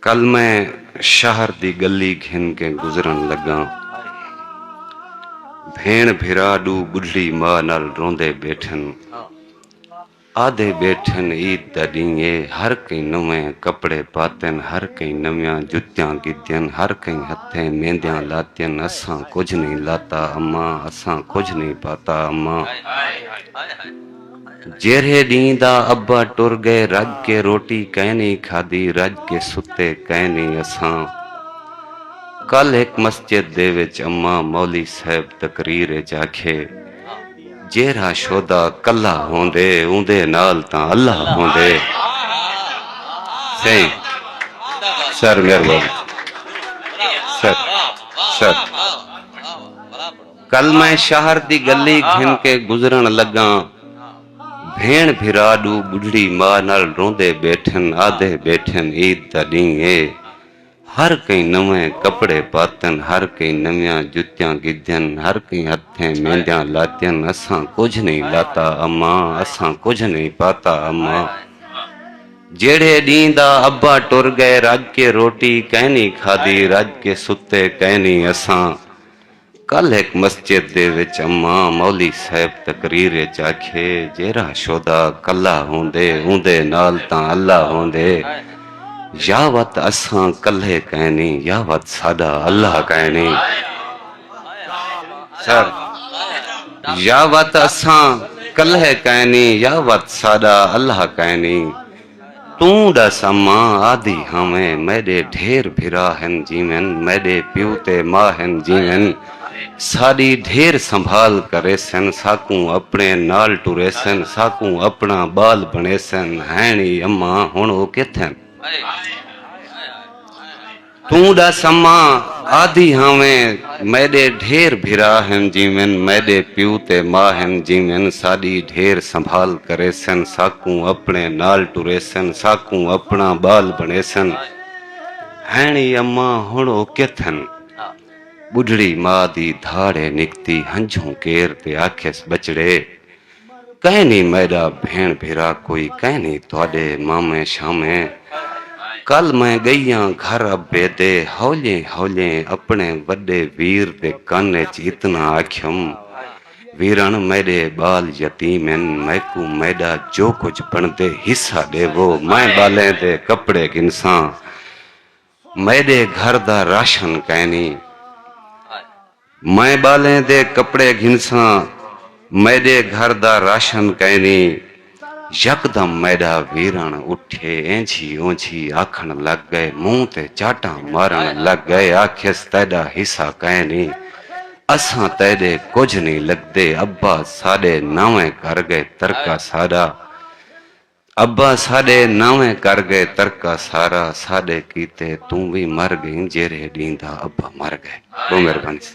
کل میں شہر دی گلی گھن کے گزرن لگاں بھیݨ بھرا ݙو ٻڈھڑی ماء نال روندے ٻیٹھن آہدے ٻیٹھن عید دا ݙینہہ اے ہر کہیں نویں کپڑے پاتن ہر کہیں نویاں جتیاں گھدین ہر کہیں ہتھیں میندیاں لاتین اساں کجھ نئیں لاتا اماں اساں کجھ نئیں پاتا اماں جیرھے ڈینہہ دا ابا ٹر گئے رڄ کے روٹی کائنی کھادی رڄ کے ستے کائنی اساں کل ہک مسجد دے وچ اماں مولی صاحب تقریر اچ آکھے جیرھا شہدا کلھا ہوندے اوندے نال تاں اللہ ہوندے سائیں سر مہربانی سر سر کل میں شہر دی گلی گھن کے گزرن لگاں بھیݨ بھرا ݙو ٻڈھڑی ماء نال روندے ٻیٹھن آہدے ٻیٹھن عید دا ݙینہہ اے ہر کہیں نویں کپڑے پاتن ہر کہیں نویاں جتیاں گھدین ہر کہیں ہتھیں میندیاں لاتین اساں کجھ نئیں لاتا اماں اساں کجھ نئیں پاتا اماں جیڑھے ݙینہہ دا ابا ٹر ڳئے رڄ کے روٹی کئنی کھادی رڄ کے ستے کئنی اساں کل ہک مسجد دے وچ اماں مولی صاحب تقریر اچ آکھے جیرھا شہدا کلھا ہوندے اوندے نال تاں اللہ ہوندے یا وت اساں کلھے کائنی یا وت ساڈا اللہ کائنی سر یا وت اساں کلھے کائنی یا وت ساڈا اللہ کائنی توں ݙس اماں آہدی ہاویں میݙے ڈھیر بھرا ہن جیون میݙے پیو تے ماء ہن جیون ساݙی ڈھیر سنبھال کریسن ساکوں اپݨے نال ٹریسن ساکوں اپݨا ٻال بݨیسن ہین ای اماں ہݨ او کتھ ہن۔ توں ڈس اماں آدھی ہاویں میڈے ڈھیر بھرا ہن جیون میڈے پیو تے ماء ہن جیون ساڈی ڈھیر سنبھال کریسن ساکوں اپنے نال ٹریسن ساکوں اپنا بال بنڑیسن ہن ای اماں ہن او کتھن بڈھڑی ماء دی دھاڑے نکتی ہنجھوں کیر تے آکھیس بچڑے کائنی میڈا بھیݨ بھرا کوئی کائنی تہاڈے مامیں شامیں کل میں گئیاں گھر ابے دے ہولیں ہولیں اپنے وڈے ویر دے کن اچ اتنا آکھیم ویرݨ میڈے بال یتیم ہن میکوں میڈا جو کجھ بݨدے حصہ ڈیوو میں بالیں دے کپڑے گھنساں میݙے گھر دا راشن کائنی۔ میں ٻالیں دے کپڑے گھنساں، میݙے گھر دا راشن کائنی۔ یکدم میݙا ویرݨ اٹھے اینجھی اونجھی آکھݨ لڳ ڳئے، مونہہ تے چاٹاں مارݨ لڳ ڳئے آکھیس تیݙا حصہ کائنی، اساں تیݙے کجھ نی لڳدے، ابا ساݙے نویں کر ڳئے ترکہ ساݙا ابا ساݙے ناویں کر ڳئے ترکہ سارا ساݙے کیتے توں وی مر ڳئیں جیرھے ݙینہہ دا ابا مر ڳئے بہوں مہربانی سا۔